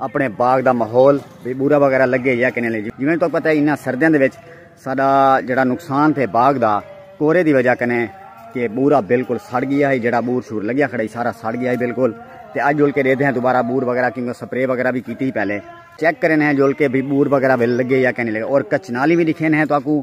اپنے باغ دا ماحول بے بورا وغیرہ لگے یا کنے لے جویں تو پتہ ہے انہاں سردیاں دے وچ ساڈا جڑا نقصان تھے باغ دا کورے دی وجہ کنے کہ بورا بالکل سڑ گیا ہے جڑا بور شور لگیا کھڑا ہی سارا سڑ گیا ہے بالکل تے اج جول کے دے دے ہیں دوبارہ بور وغیرہ کیوں سپرے وغیرہ بھی کیتی ہی پہلے چیک کرنے ہیں جول کے بھی بور وغیرہ بھی لگے یا کنے لگے اور کچھ نالی بھی دکھے ہیں تو اکو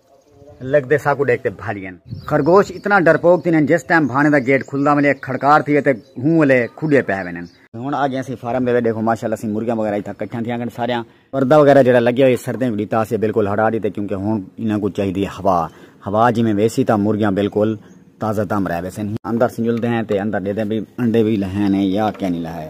لگدے ساکوں ڈیکھ تے بھالین۔ خرگوش اتنا ڈرپوک تھیندن جس ٹائم بھانے دا گیٹ کھلدا ونجے ہک کھڑکار تھیوے تے ہوں ولے کھڈے پے ونجن۔ ہن آ گیاں اسی فارم دے وچ ڈیکھو ماشاءاللہ اسی مرغیاں وغیرہ اتھاں کٹھیاں تھیاں گن ساریاں۔ پردہ وغیرہ جیڑھا لگیا ہوئی سردیں کوں ڈتا اسے بالکل ہٹا ڈتے کیونکہ ہن انہاں کوں چاہیدی ہے ہوا۔ ہوا جویں ویسی تاں مرغیاں بالکل تازہ دم رہ ویسن۔ اندر سنجلدے ہیں تے اندر ڈیدے بھئی انڈے وی لہے نے یا کینی لہے۔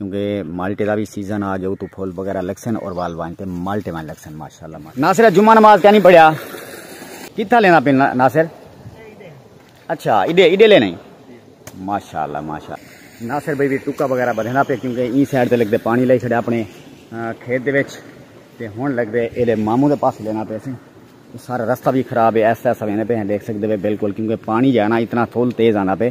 کیونکہ مالٹے دا بھی سیزن آ گیا تو پھول وغیرہ لگسن اور وال وائن تے مالٹے وائن لگسن ماشاءاللہ ناصر جمعہ نماز کیا نہیں پڑھیا کتھا لینا پہ ناصر اچھا ایڈے ایڈے لے نہیں ماشاء اللہ ماشاء اللہ ناصر بھائی بھی ٹکا وغیرہ بدھنا پہ کیونکہ این سائڈ سے لگتے پانی لائی چڑھے اپنے کھیت دے وچ تے ہن لگتے یہ ماموں دے پاس لینا پہ سی سارا رستہ بھی خراب ہے ایسا ایسا لینا پہ دیکھ سکتے پہ بالکل کیونکہ پانی جانا اتنا تھول تیز آنا پہ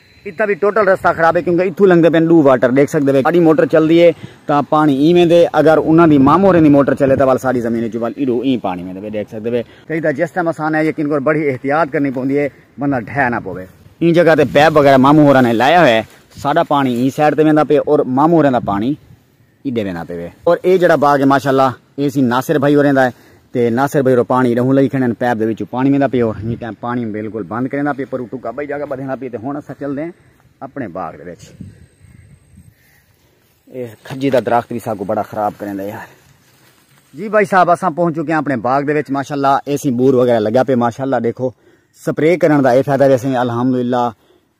اتھاں وی ٹوٹل رستہ خراب ہے کیونکہ اتھوں لنگدے پن ڈو واٹر ڈیکھ سکدے وے ساڈی موٹر چلدی ہے تاں پانی ایں ویندے اگر انہاں دی مامو ہوریں دی موٹر چلے تاں ول ساڈی زمین اچوں ول ایڈو ایں پانی ویندے وے ڈیکھ سکدے وے۔ کئی تاں جس ٹائم اساں نے یقین کر بڑی احتیاط کرنی پوندی ہے بندہ ڈھہ نہ پوے۔ ایں جگہ تے پیپ وغیرہ مامو ہوراں نے لایا ہویا ہے ساڈا پانی ایں سائیڈ تے ویندا پے اور مامو ہوریں دا پانی ایڈے وینداں پے وے۔ اور اے جیڑھا باغ ہے ماشاء اللہ اے سی ناصر بھائی اوریں دا ہے تے ناصر بھائی اور پانی ڈہوں لئی کھڑے ہیں پیپ دے وچوں پانی ویندا پے اور ہی ٹائم پانی بالکل بند کریندا پے پرو ٹکا بھائی جاگا بدھیندا پے تے ہن اساں چل دے ہیں اپنے باغ دے وچ اے کھجی دا درخت بھی ساکو بڑا خراب کریندا ہے یار جی بھائی صاحب اساں پہنچ چکے ہیں اپنے باغ دے وچ ماشاء اللہ اے سی بور وغیرہ لگا پے ماشاء اللہ دیکھو سپرے کرن دا اے فائدہ ویسے الحمدللہ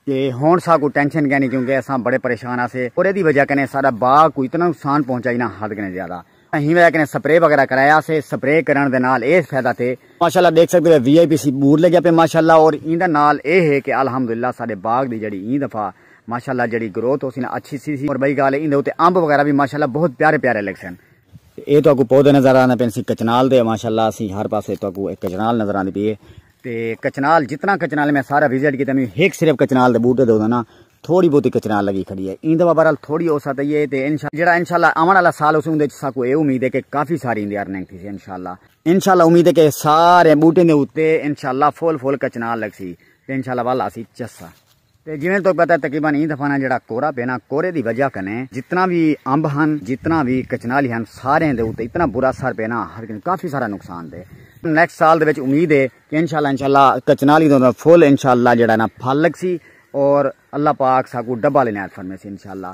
تے ہنڑ ساکوں ٹینشن کینی کیونکہ اساں بڑے پریشان ہاسے اور ایدی وجہ کنے ساڈا باغ کوں اتنا نقصان پہنچا جنہاں حد کنے زیادہ ہی وجہ کنے سپرے وغیرہ کرایا سے سپرے کرنڑ دے نال اے فیدہ تھے ماشاءاللہ دیکھ سکدے وے وی آئی پی سی بور لگیا پے ماشاءاللہ اور ایندا نال اے ہے کہ الحمدللہ ساڈے باغ دی جیڑی ایں دفعہ ماشاءاللہ جیڑی گروتھ ہوسی نا اچھی سی سی اور بئی گال ایندے اتے امب وغیرہ وی ماشاءاللہ بہت پیارے پیارے لگسن۔ اے تہاکوں پودے نظر آندے پین سی کچنال دے ماشاءاللہ اسی ہر پاسے تہاکوں اے کچنال نظر آندی پی اے۔ تے کچنال جتنا کچنال میں سارا وزٹ کیتا میں ہک صرف کچنال دے بوٹے دے نا تھوڑی بہتی کچنال لگی کھڑی ہے ایں دفعہ بہرحال تھوڑی ہو سکتی ہے تے انشاءاللہ جیڑا انشاءاللہ آون والا سال ہوسی اوندے وچ ساکو اے امید ہے کہ کافی ساری ایندی ارننگ تھیسی انشاءاللہ انشاءاللہ امید ہے کہ سارے بوٹیں دے اتے انشاءاللہ فل فل کچنال لگسی تے انشاءاللہ ول آسی چسا۔ تے جیویں تہاکوں پتہ ہے تقریبا ایں دفعہ نہ جیہڑا کورہ پئے نہ کورے دی وجہ کنیں جتنا وی امب ہن جتنا وی کچنالی ہن ساریاں دے اتے اتنا برا اثر پئے نہ ہر کہیں کافی سارا نقصان پئے نیکسٹ سال دے وچ امید ہے کہ انشاءاللہ انشاءاللہ کچنالی دا فل انشاءاللہ جیہڑا ہے نہ پھل لگسی اور اللہ پاک ساکوں ڈبل عنایت فرمیسی انشاءاللہ۔